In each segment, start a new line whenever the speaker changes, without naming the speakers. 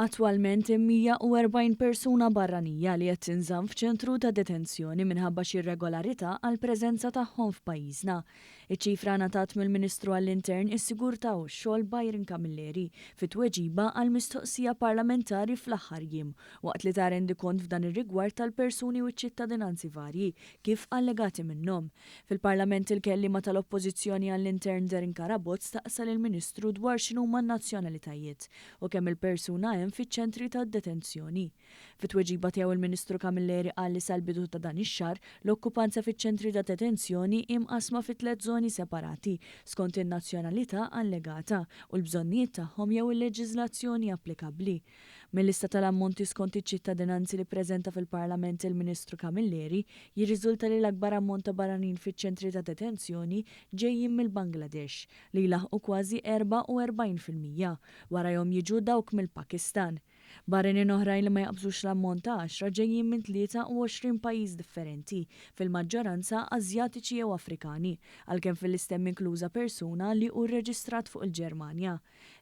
Attwalment hemm 140 persuna barranija li qed tinżamm f'ċentru ta' detenzjoni minħabba xi irregolarità għall-preżenza tagħhom f'pajjiżna. Iċ-ċifra ngħatat mill-Ministru għall-Intern, is-Sigurtà u x-Xogħol Byron Camilleri fi tweġiba għal mistoqsija parlamentari fl-aħħar jiem waqt li ta rendikont f'dan ir-rigward tal-persuni u ċ-ċittadinanzi varji kif allegati minnhom. Fil-Parlament il-kelliema tal-Oppożizzjoni għall-Intern Darren Carabott staqsa lill-Ministru dwar x'inhuma n-nazzjonalitajiet u kemm il-persuna hemm fiċ-ċentri ta' detenzjoni. Fi tweġiba tiegħu l-Ministru Camilleri qal li sal-bidu ta' dan ix-xahar, l-okkupanza fiċ-ċentri ta' detenzjoni hi mqassma fi tliet żoni separati skont in-nazzjonalità allegata u l-bżonnijiet tagħhom jew il-leġiżlazzjoni applikabbli. Mil-lista tal-ammonti skont iċ-ċittadinanzi li ppreżenta fil-Parlament il-Ministru Camilleri jirriżulta li l-akbar ammont ta' barranin fiċ-ċentri ta' detenzjoni ġejjin mill-Bangladesh, li jlaħħqu kważi 44 fil-mija. Warajhom jiġu dawk mill-Pakistan. Barranin oħrajn li ma jaqbżux l-ammont ta' għaxra ġejjin minn 23 pajjiż differenti, fil-maġġoranza Ażjatiċi jew Afrikani, għalkemm fil-list'hemm inkluża persuna li hu rreġistrat fuq il-Ġermanja.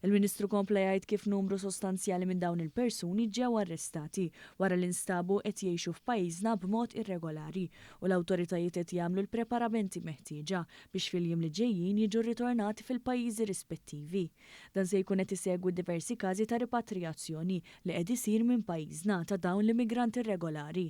Il-Ministru kompla jgħid kif numru sostanzjali minn dawn il-persuni ġew arrestati wara li nstabu qed jgħixu f'pajjiżna b'mod irregolari u l-awtoritajiet qed jagħmlu l-preparamenti meħtieġa biex fil-jiem li ġejjin jiġu rritornati fil-pajjiżi rispettivi. Dan se jkun qed isegwi diversi każi ta' ripatrijazzjoni li qed isir minn pajjiżna ta' dawn l-immigranti rregolari.